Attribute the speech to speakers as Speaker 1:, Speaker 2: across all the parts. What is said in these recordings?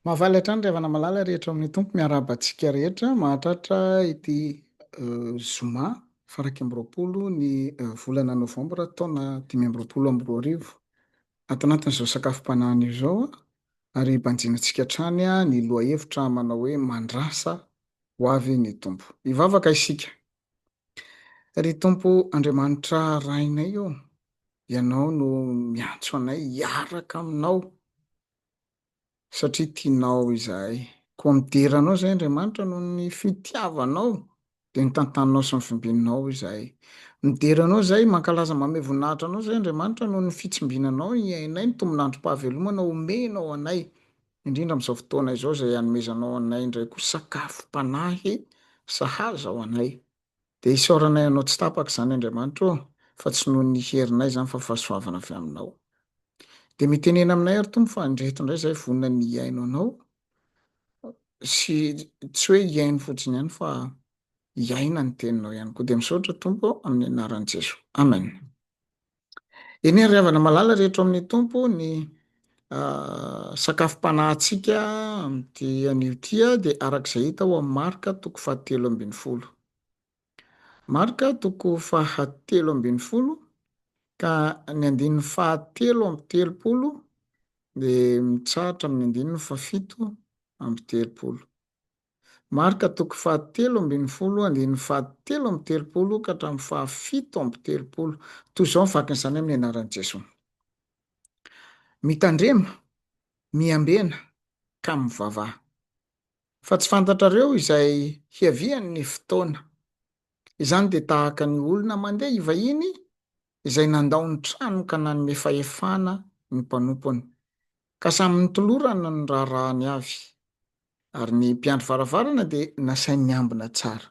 Speaker 1: Mahafaly hatrany ry havana malala rehetra ao amin'ny Tompo, miarahaba antsika rehetra mahatratra ity zoma faraika amby roapolo ny volana novambra taona dimy amby roapolo amby roa arivo. Ato anatin'izao sakafom-panahiny izao ary banjinantsika hatrany ny lohahevitra manao hoe mandrasa ho avy ny Tompo. Hivavaka isika, Ry Tompo Andriamanitra Rainay ô, Ianao no miantso anay hiaraka Aminao, satria tianao izahay. Koa midera Anao izahay, Andriamanitra, noho ny fitiavanao, dia ny tantaninao sy ny fimbininao izahay. Midera Anao izahay, mankalaza mamehy voninahitra Anao izahay, Andriamanitra, noho ny fitsimbinanao hiainay ny tombon'androm-pahavelomana omenao anay. indrindra amin'izao fotoana izao izay anomezanao anay indray koa sakafom-panahy sahaza ho anay. Dia isaoranay Anao tsy tapaka izany Andriamanitra ô, fa tsy noho ny herinay izany fa fahasoavana avy Aminao. Dia mitenena aminay ary Tompo fa indreto indray izahay vonona ny hihaino Anao sy tsy hoe hihaino fotsiny ihany fa hiaina ny Teninao ihany koa. Dia misaotra Tompo ô, amin'ny anaran'i Jesoa. Amen. Eny ry havana malala rehetra ao amin'ny Tompo, ny sakafom-panahintsika amin'ity anio ity dia araka izay hita ao amin'ny Marka toko fahatelo ambin'ny folo. Marka toko fahatelo ambin'ny folo ka ny andininy fahatelo amby telopolo dia mitsahatra amin'ny andininy fahafito amby telopolo. Marka toko fahatelo ambin'ny folo andininy fahatelo amby telopolo ka hatramin'ny fahafito amby telopolo. Toy izao ny fakan'izany amin'ny anaran'i Jesoa, Mitandrema, miambena, ka mivavaha. Fa tsy fantatrareo izay hiavian'ny fotoana. Izany dia tahaka ny olona mandeha hivahiny izay nandao ny trano ka nanome fahefana ny mpanompony. Ka samy nitolorana ny raharahany avy, ary ny mpiandry varavarana dia nasainy niambina tsara.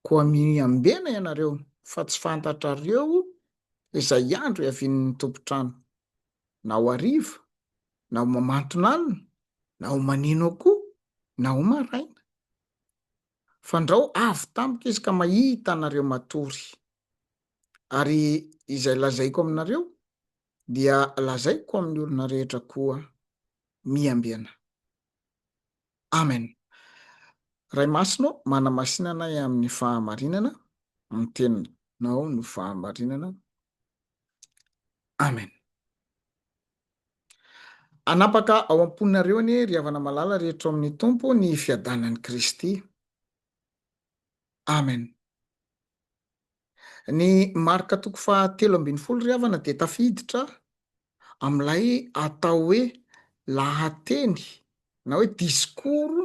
Speaker 1: Koa miambena ianareo, fa tsy fantatrareo izay andro hiavian'ny tompon-trano, na ho hariva, na ho mamanton'alina, na ho manino akoho, na ho maraina. Fandrao avy tamiko izy ka mahita anareo matory. Ary izay lazaiko aminareo dia lazaiko amin'ny olona rehetra koa miambena. Amen. Ray Masina ô, manamasina anay amin'ny fahamarinana, ny teninao no fahamarinana. Amen. Anapaka ao am-ponareo anie ry havana malala rehetra ao amin'ny Tompo ny fiadanan'i Kristy. Amen. Ny marika toko faha telo ambin'ny folo ry havana dia tafiditra amin'ilay atao hoe lahateny na hoe disikoro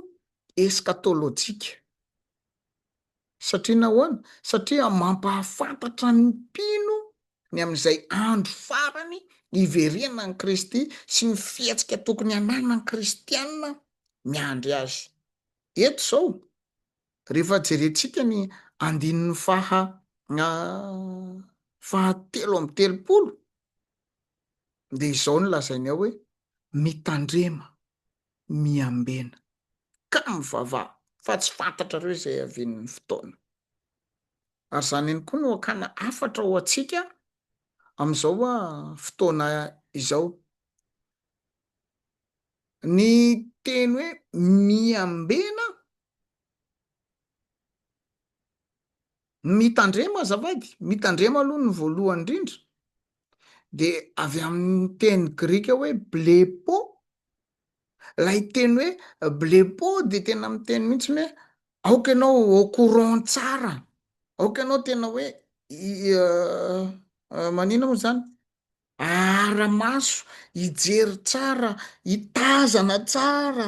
Speaker 1: eskatolojika. Satria nahoana? Satria mampahafantatra ny mpino ny amin'izay andro farany hiverenan'i Kristy sy ny fihetsika tokony hananan'ny kristiana miandry azy. Eto izao. Rehefa jerentsika ny andininy faha fahatelo amby telopolo dia izao no lazainy ao hoe mitandrema, miambena ka mivavaha fa tsy fantatrareo izay hiavian'ny fotoana. Ary izany ihany koa no hakana hafatra ho antsika amin'izao fotoana izao. Ny teny hoe miambena Mitandrema azafady, mitandrema aloha ny voalohany indrindra de avy amin'ny teny grika hoe blepo, ilay teny hoe blepo de tena miteny mihitsy ny hoe aoka ianao au courant tsara, aoka ianao tena hoe manina moa zany, ahara-maso, hijery tsara, hitazana tsara,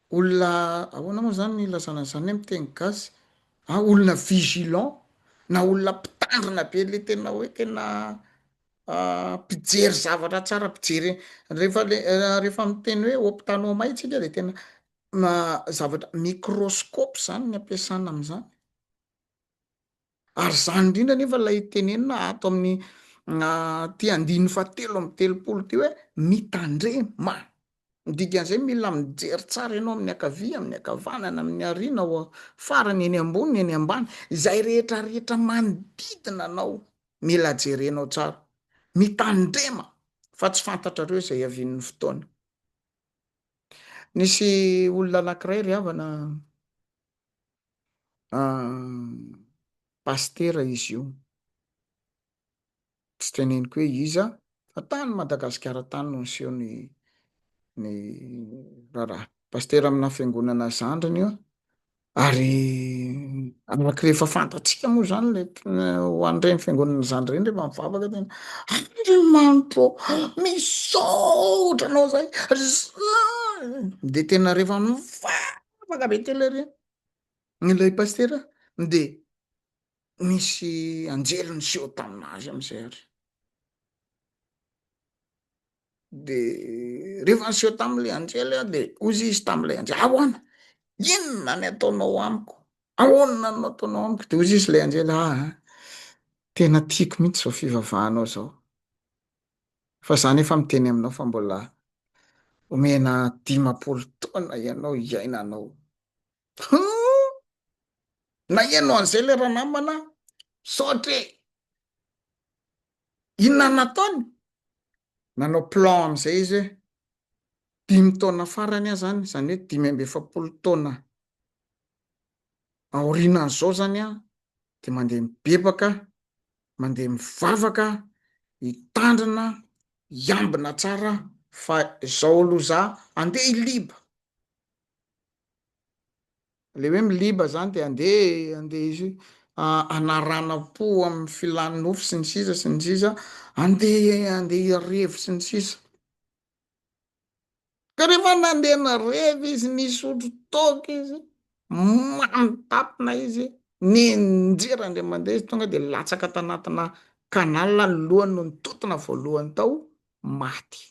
Speaker 1: Olona ahoana moa izany no ilazana an'izany hoe miteny gasy an? Olona vigilant na olona mpitandrina be ilay tena hoe tena mpijery zavatra tsara, mpijery rehefa le rehefa miteny hoe optanomai tsika dia tena zavatra microscope izany ny ampiasana amin'izany. Ary izany indrindra anefa ilay tenenina ato amin'ny ity andininy fahatelo amby telopolo ity hoe mitandrema. Ny dikan'izay mila mijery tsara ianao amin'ny ankavia, amin'ny ankavanana, amin'ny arina, ao farany, eny ambony, eny ambany, izay rehetra rehetra manodidina anao mila jerenao tsara. Mitandrema fa tsy fantatrareo izay hiavian'ny fotoana. Nisy olona anankiray ry havana Pasitera izy io, tsy teneniko hoe iza fa tany Madagasikara tany no niseho ny ny raharaha. Pasitera amina fiangonana zandriny io ary araka ilay efa fantatsika moa izany ilay ho an'ireny fiangonana zandry ireny rehefa mivavaka tena ary manto misaotra anao izay dia tena rehefa mivavaka Afaka be telo ary ilay pasitera dia nisy anjely niseho taminazy amin'izay ary de rehefa niseho tamin'ilay anjely a de ozy izy tamin'ilay anjely ahoana inona ny ataonao amiko ahoana no ataonao amiko de ozy izy ilay anjely aa ah, ah, tena tiako mihitsy zao fivavahanao zao Fa za nefa miteny aminao fa mbola omena dimampolo taona ianao hiaina anao hum! Naheno an'izay le ranamana aho, misaotra e! Inona nataony? Nanao plan amin'izay izy hoe dimy taona farany aho zany, zany hoe dimy amby efapolo taona aorianan'izao izany aho dia mandeha mibebaka, mandeha mivavaka, hitandrina, hiambina tsara aho fa izao aloha za andeha hiliba. Le hoe miliba izany dia andeha andeha hanaranam-po amin'ny filan'ny nofo sy ny sisa sy ny sisa, andeha andeha hirevo sy ny sisa. Ka rehefa nandeha nareva izy nisotro toaka izy, mamy tampina izy, nianjera andeha mandeha izy tonga dia latsaka tanatina canal ny lohany no nitontona voalohany tao, maty.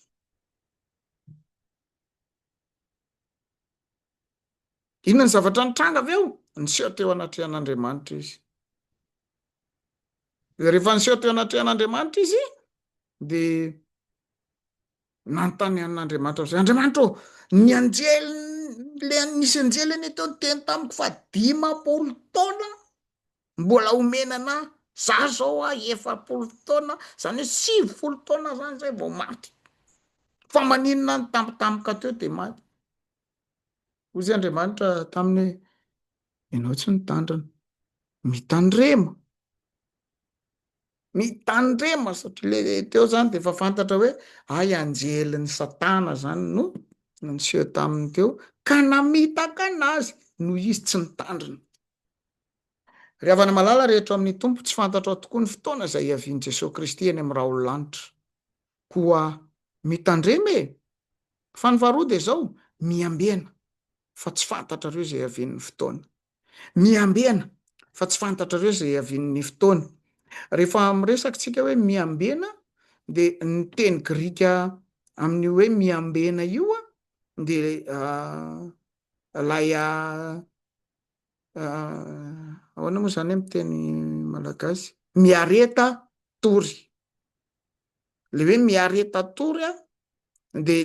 Speaker 1: Inona ny zavatra nitranga avy eo? Niseho teo anatrehan'Andriamanitra izy. Dia rehefa niseho teo anatrehan'Andriamanitra izy dia Nanontany an'Andriamanitra aho, Andriamanitra ô, ny anjely, le nisy anjely anie teo niteny tamiko fa dimampolo taona mbola omena anah, za zao a efapolo taona, zany hoe sivifolo taona zany zay vao maty, fa maninona any tampotampoka teo de maty? Hoy zay Andriamanitra taminy hoe, ianao tsy nitandrina, mitandrema, Mitandrema satria le teo zany de efa fantatra hoe hay anjelin'i satana zany no niseho taminy teo ka namitaka anazy noho izy tsy nitandrina. Ry havana malala rehetra ao amin'ny Tompo, tsy fantatrao tokoa ny fotoana izay hiavian'i Jesoa Kristy eny amin'ny raolo-lanitra. Koa mitandrema e! Fa ny faharoa dia izao, miambena, fa tsy fantatrareo izay hiavian'ny fotoana. Miambena, fa tsy fantatrareo izay hiavian'ny fotoana. Rehefa miresaka isika hoe miambena dia ny teny grika amin'io hoe miambena io dia ilay ahoana moa izany amin'ny teny malagasy? Miareta tory. Ilay hoe miareta tory dia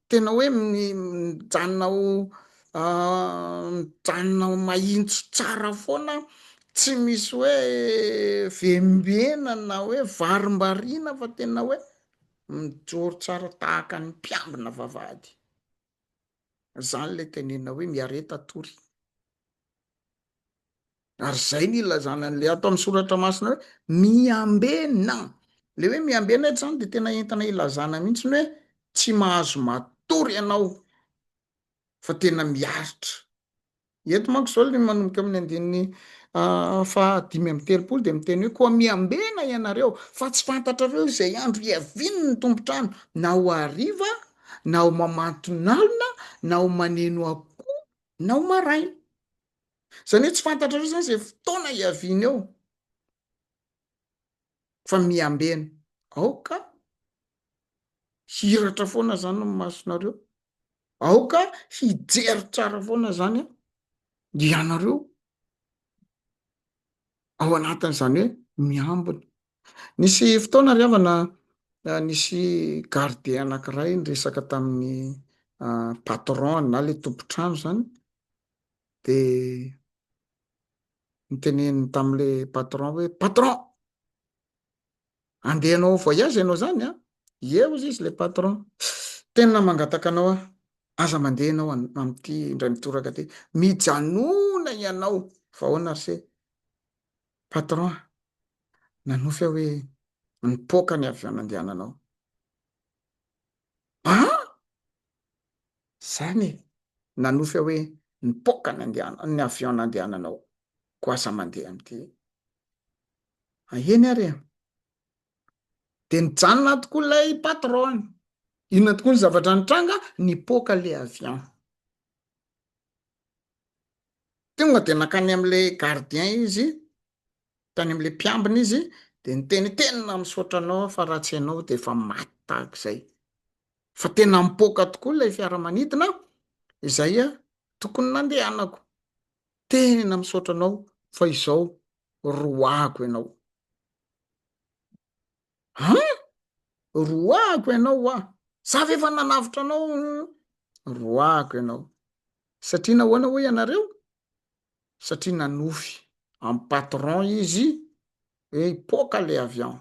Speaker 1: tena hoe mijanona ho mijanona ho mahintso tsara foana tsy misy hoe vembena na hoe varimbariana fa tena hoe mijoro tsara tahaka ny mpiambina vavahady zany le tenena hoe miareta tory Ary izay no ilazana an'ilay ato amin'ny soratra masina hoe miambena. Ilay hoe miambena eto izany dia tena entina hilazana mihitsy ny hoe tsy mahazo matory ianao fa tena miaritra. Eto manko izao ilay manomboka amin'ny andininy ah, fahadimy amby telopolo dia miteny hoe koa miambena ianareo fa tsy fantatrareo izay andro hiaviany ny tompontrano na ho hariva na ho mamantonalina na ho maneno akoho na ho maraina. Izany hoe tsy fantatrareo izany izay fotoana hiaviany eo fa miambena. Aoka hiratra foana izany ny masonareo, aoka hijery tsara foana izany ianareo ao anatin'izany hoe miambina Nisy fotoana ry havana nisy garde anankiray niresaka tamin'ny patron-ny na ilay tompon-trano izany dia niteneniny tamin'ilay patron hoe patron andeha hanao voyage ianao izany an, ie hozy izy ilay patron, tena mangataka anao aho aza mandeha ianao amin'ity indray mitoraka ity, mijanona ianao fa ahoana ry se, Patron, nanofy aho hoe nipoaka ny avion nandehananao. Ah! Zany e! Nanofy aho hoe nipoaka ny andehananao, ny avion nandehananao. Koa aza mandeha amin'ity. Ah, eny ary e! Dia nijanona tokoa ilay patron. Inona tokoa ny zavatra nitranga? Nipoaka ilay avion. Tonga dia nankany amin'ilay gardien izy, tany amin'ilay mpiambina izy, dia niteny, tena misaotra anao aho fa raha tsy ianao dia efa maty tahaka izay. Fa tena mipoaka tokoa ilay fiaramanidina izay tokony nandehanako. Tena misaotra anao fa izao roahako ianao. An! Roahiko ianao hoa! Za ve efa nanavotra anao? Roahiko ianao! Satria nahoana hoy ianareo? Satria nanofy amin'ny patron izy hoe hipoaka ilay avion.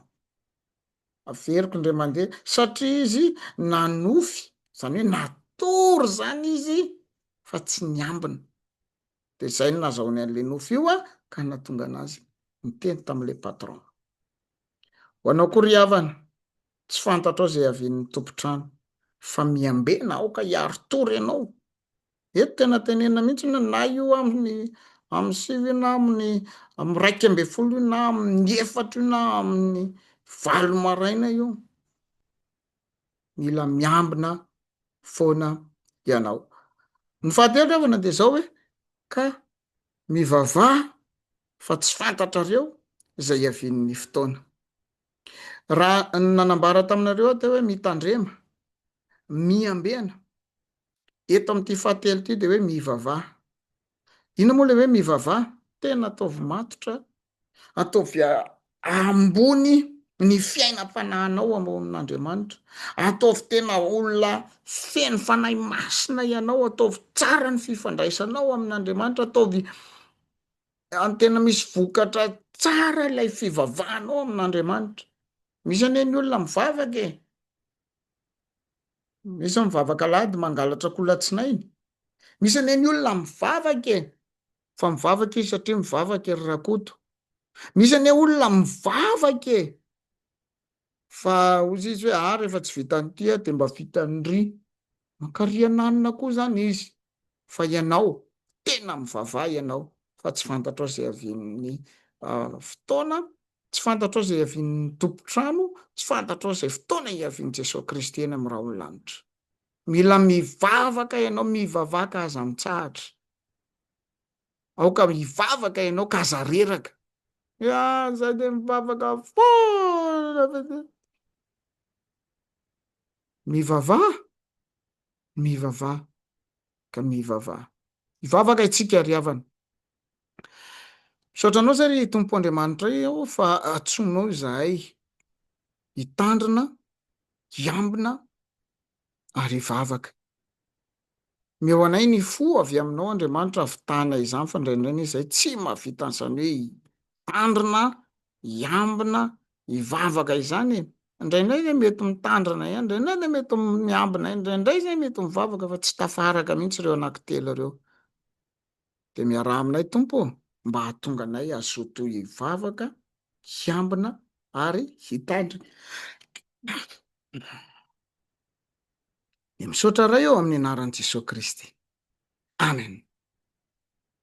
Speaker 1: Averiko indray mandeha, satria izy nanofy, izany hoe natory izany izy fa tsy niambina. Dia izay no nahazahoany an'ilay nofy io ka nahatonga anazy niteny tamin'ilay patron. Ho anao koa ry havana, tsy fantatrao izay havian'ny tompon-trano, fa miambena aoka hiaro tory ianao. Eto tena tenenina mihitsy hoe na io amin'ny amin'ny sivy io na amin'ny amin'ny iraika ambin'ny folo io na amin'ny efatra io na amin'ny valo maraina io. Mila miambina foana ianao. Ny fahatelo ry havana dia izao hoe ka Mivavaha fa tsy fantatrareo izay hiavian'ny fotoana. Raha nanambara taminareo aho teo hoe mitandrema, miambena. Eto amin'ity fahatelo ity dia hoe mivavaha. Inona moa ilay hoe mivavaha? Tena ataovy matotra Ataovy ambony ny fiainam-panahinao am amin'Andriamanitra. Ataovy tena olona feno Fanahy Masina ianao. Ataovy tsara ny fifandraisanao amin'Andriamanitra. Ataovy tena misy vokatra tsara ilay fivavahanao amin'Andriamanitra. Misy anie ny olona mivavaka e. Misy mivavaka alahady mangalatra kolatsinainy. Misy anie ny olona mivavaka e. fa mivavaka izy satria mivavaka ry Rakoto. Misy anie olona mivavaka e! Fa hozy izy hoe ah rehefa tsy vitan'ity aho dia mba vitan'ry. Mankariana anona koa izany izy fa ianao tena mivavaha ianao fa tsy fantatrao izay avian'ny fotoana, tsy fantatrao izay avian'ny tompon-trano, tsy fantatrao izay fotoana hiavian'i Jesoa Kristy eny amin'ny rahon'ny lanitra. Mila mivavaka ianao, mivavaka aza mitsahatra. Aoka hivavaka ianao ka aza reraka. Iah, izaho dia mivavaka foana ve? Mivavaha, mivavaha, ka mivavaha. Hivavaka isika ry havana. Misaotra anao izay ry Tompo Andriamanitra aho fa antsoinao izahay hitandrina, hiambina ary hivavaka. Omeo anay ny fo avy aminao Andriamanitra avitahana izany fa indraindray izay tsy mahavita an'izany hoe hitandrina, hiambina, hivavaka izany e! indraindray izay mety mitandrina ihany, indraindray izay mety miambina ihany, indraindray izay mety mivavaka fa tsy tafaraka mihintsy ireo anankitelo ireo dia miaraha aminay Tompo ô! mba hahatonga anay hazoto hivavaka, hiambina ary hitandrina. Dia misaotra Ray ô amin'ny anaran'i Jesoa Kristy. Amen.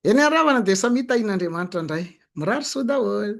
Speaker 1: Eny aravana dia samia tahian'Andriamanitra ndray. Mirary soa daholo.